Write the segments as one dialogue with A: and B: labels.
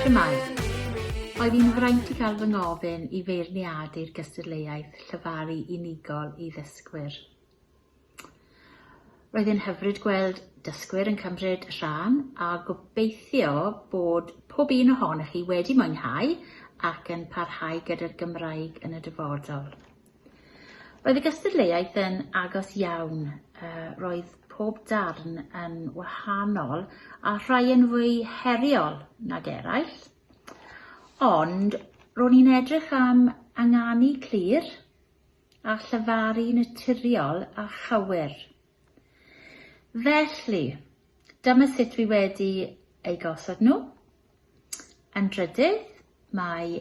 A: Shwmae! Oedd hi'n fraint i gael fy ngofyn i feirniadu'r gystadleuaeth llyfaru unigol i ddysgwyr. Roedd e'n hyfryd gweld dysgwyr yn cymryd rhan a gobeithio bod pob un ohonoch chi wedi mwynhau ac yn parhau gyda'r Gymraeg yn y dyfodol. Roedd y gystadleuaeth yn agos iawn, roedd pob darn yn wahanol a rhai yn fwy heriol nag eraill, ond ro'n i'n edrych am ynganu clir a llyfaru naturiol a chywir. Felly, dyma sut fi wedi eu gosod nhw. Yn drydydd, mae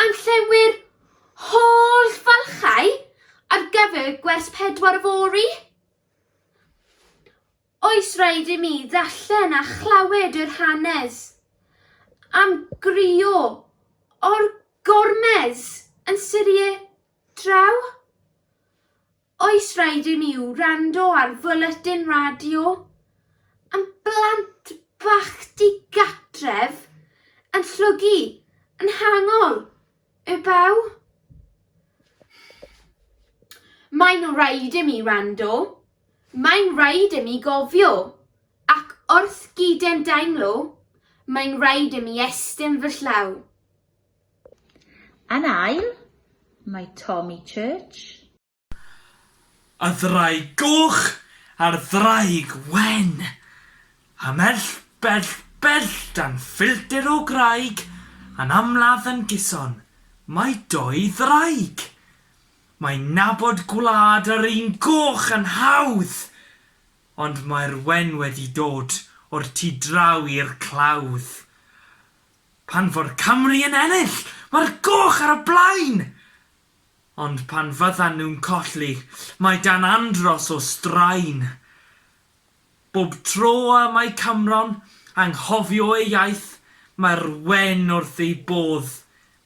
B: Am llewyr holl falchau ar gyfer gwers pedwar fory? Oes rhaid i mi ddarllen a chlywed yr hanes am grio o'r gormes yn Syrie draw? Oes rhaid i mi wrando ar fwletin radio am blant bach digatref yn llwgu yn hangol y baw? Mae'n rhaid i mi wrando, mae'n rhaid i mi gofio, ac wrth gyd-endaemlo, mae'n rhaid i mi estyn fy llaw.
A: Yn ail, mae Tommy Church.
C: A Ddraig Goch a'r Ddraig Wen. Ymhell bell bell dan filltir o graig yn amlaf yn gyson, mae dou ddraig. Mae nabod gwlad yr un goch yn hawdd, ond mae'r wen wedi dod o'r tu draw i'r clawdd. Pan fo'r Cymry yn ennill, mae'r goch ar y blaen! Ond pan fyddan nhw'n colli, mae Dan Andros o straen. Bob tro y mae Cymro'n anghofio ei iaith, mae'r wen wrth ei bodd,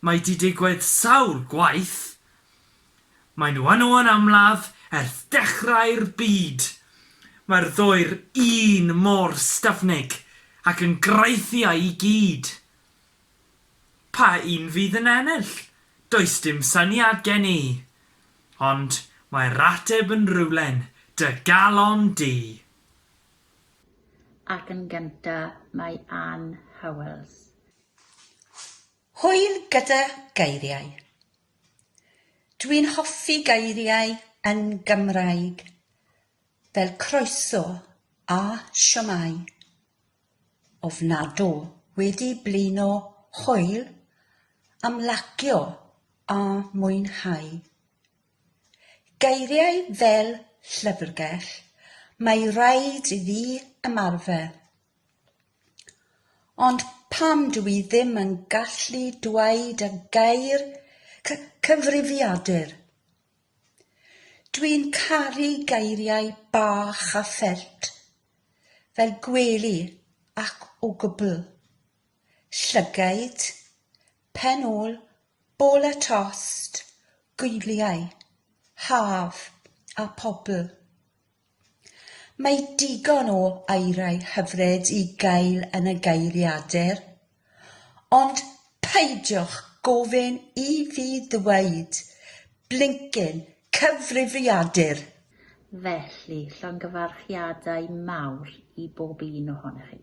C: mae 'di digwydd sawl gwaith. Maen nhw yno yn amlaf erth dechrau'r byd. Mae'r ddwy'r un mor styfnig ac yn graethiau i gyd. Pa un fydd yn ennill? Does dim syniad gen i. Ond mae'r ateb yn rywle'n dy galon di.
A: Ac yn gynta mae Ann Howells.
D: Hwyl gyda geiriau. Dwi'n hoffi geiriau yn Gymraeg fel croeso a siomai. Ofnadw wedi blino hwyl am lagio a mwynhau. Geiriau fel llyfrgell mae raid i fi ymarfer. Ond pam dw i ddim yn gallu dweud y gair cy- cyfrifiadur? Dw i'n caru geiriau bach a ffelt, fel gwely ac o gwbl. Llygaid, pen ôl, bol a tost, gwyliau, haf a pobl. Mae digon o aerau hyfryd i gael yn y Geiriadur, ond peidiwch gofyn i fi ddweud 'blincin cyfrifiadur'!
A: Felly, llongyfarchiadau
E: mawr
A: i bob un
E: ohonoch
A: chi.